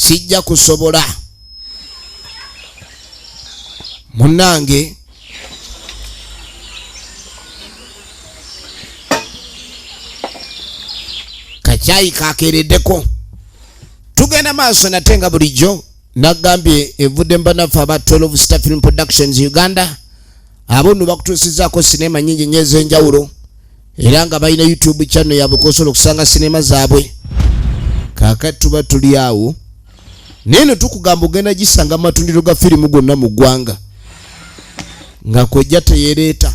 sijja kusobola munange kakyayi kakeereddeko tugenda maaso nate nga bulijjo nagambye evudde mbanaffe aba 12 star film productions uganda abo nno bakutuusizaako sineema nyingi nyo ez'enjawulo era nga balina youtube channel yaabwe kwosobola okusanga sineema zaabwe kakati tuba tuli awo naye no tukugamba ogenda gisanga mu matundiro ga firimu gonna mu ggwanga nga kojja teyereeta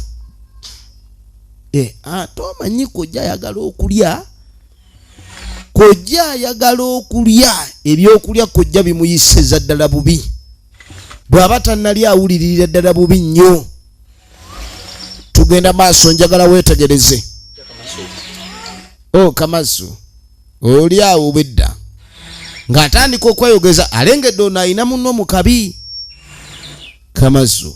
eh, ate omanyi kojja ayagala okulya kojja ayagala okulya ebyokulya kojja bimuyisiza ddala bubi bw'aba tannali awuliririra ddala bubi nnyo tugenda maaso njagala weetegereze o oh, kamasu oli awo bedda ng'atandika okweyogeza alengedde ono alina munno mu kabi kamasu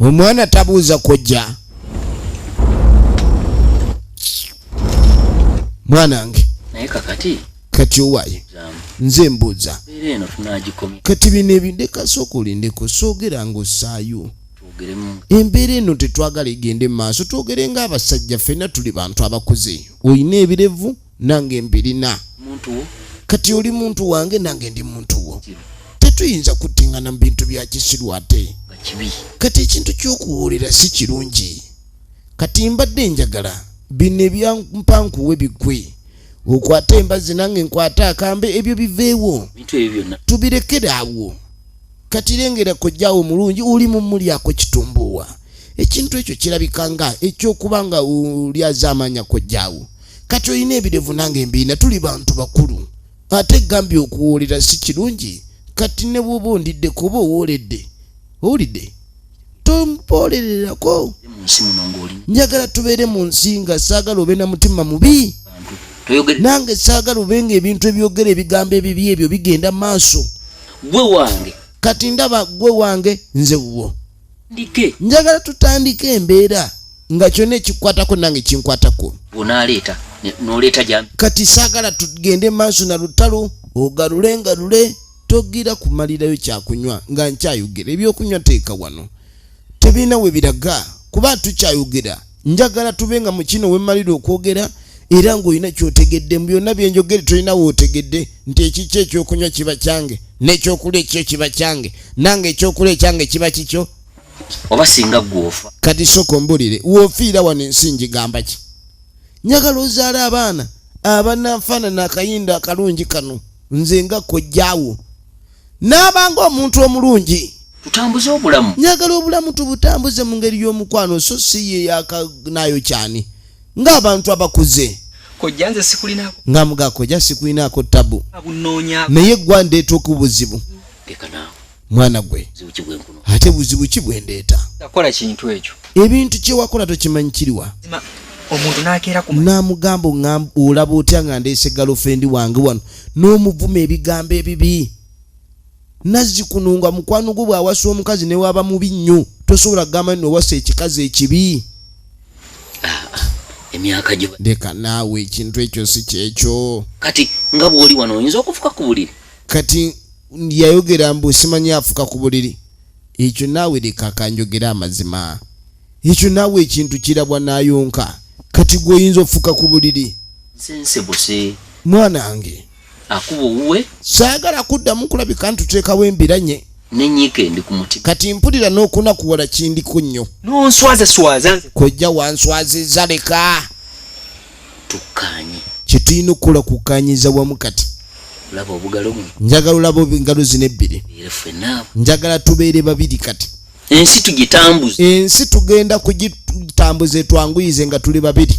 omwana tabuuza kojja mwanange naye kakati kati owaye nze mbuuza kati bino ebindeka sooka olindeko soogera nga osaayo embeera eno tetwagala egende mu maaso twogere nga abasajja fena tuli bantu abakuze olina ebirevu nange mbirina kati oli muntu wange nange ndi muntu wo tetuyinza kuttingana mu bintu bya kisiru ate kati ekintu ky'okuwulira si kirungi kati mbadde njagala bino ebyampankuwe bigwe okwata embazi nange nkwata akambe ebyo biveewo tubirekere awo kati lengera kojjawo omulungi oli mumulyako kitumbuuwa ekintu ekyo kirabika nga ekyokuba nga olyazaamaanya kojjawo kati olina ebirevu nange mbiina tuli bantu bakulu ate gambye okuwoolera si kirungi kati ne bwoba ondidde kuba owooledde owulidde tompoolererako njagala tubeere mu nsi nga saagala obe na mutima mubi nange saagala obe nga ebintu ebyogera ebigambo ebibi ebyo bigenda maaso gwe wange kati ndaba gwe wange nze wuwo njagala tutandike embeera nga kyona ekikwatako nange kinkwatako onaleeta noleeta jami kati saagala tugende maaso na lutalo ogalule ngalule togira kumalirayo kyakunywa nga nkyayogera ebyokunywa teeka wano tebirina we biraga kuba tukyayogera njagala tube nga mukino wemalira okwogera era ng'olina kyotegedde mu byonna byenjogere tolina wootegedde nti ekikyo ekyokunywa kiba kyange n'ekyokulya ekikyo kiba kyange nange ekyokulya ekyange kiba kikyo oba singa gwofa kati sooka ombulire woofiira wano ensi ngigamba ki njagala ozaala abaana abananfaanana akayinda akalungi kano nze nga kojjaawo n'aba ng'omuntu omulungi tutambuze obulamu njagala obulamu tubutambuze mu ngeri y'omukwano so si ye yakanaayo kyani ng'abantu abakuze kojja nze sikulinako nga muga kojja sikulinako tabu abunonya naye gwa ndeeta okubuzibu leka naawe mwana gwe ate buzibu ki bwe ndeeta akola kintu ekyo ebintu kye wakola tokimanyi kiriwa omuntu nakeera ku namugamba olaba otya nga ndeese galofendi wange wano n'omuvuma ebigambo ebibi nazzikuno nga mukwano gwo bw'awasa omukazi ne waaba mubi nnyo tosobola kugamba nti nowasa ekikazi ekibi emyaka gyo leka naawe ekintu ekyo si kyekyo kati nga bw'oli wano oyinza okufuka ku buliri kati yayogera mbu simanyi afuka ku buliri ekyo naawe leka kanjogera amazima ekyo naawe ekintu kirabwa n'ayonka kati gweoyinza ofuka ku buliri nsensebuse mwana nge akuba owuwe saagala kuddamu kulabika ntuteekawo embiranye nenyika endi ku mutima kati mpulira n'okunakuwala kindiko nnyo nonswazaswaza kojja wanswaziza leka tukkanye kyetulina okukola kukkanyiza wamu kati njagala olaba engalo zino ebbiri njagala tubeere babiri kati ensi tugitambuze ensi tugenda kugitambuza etwanguyize nga tuli babiri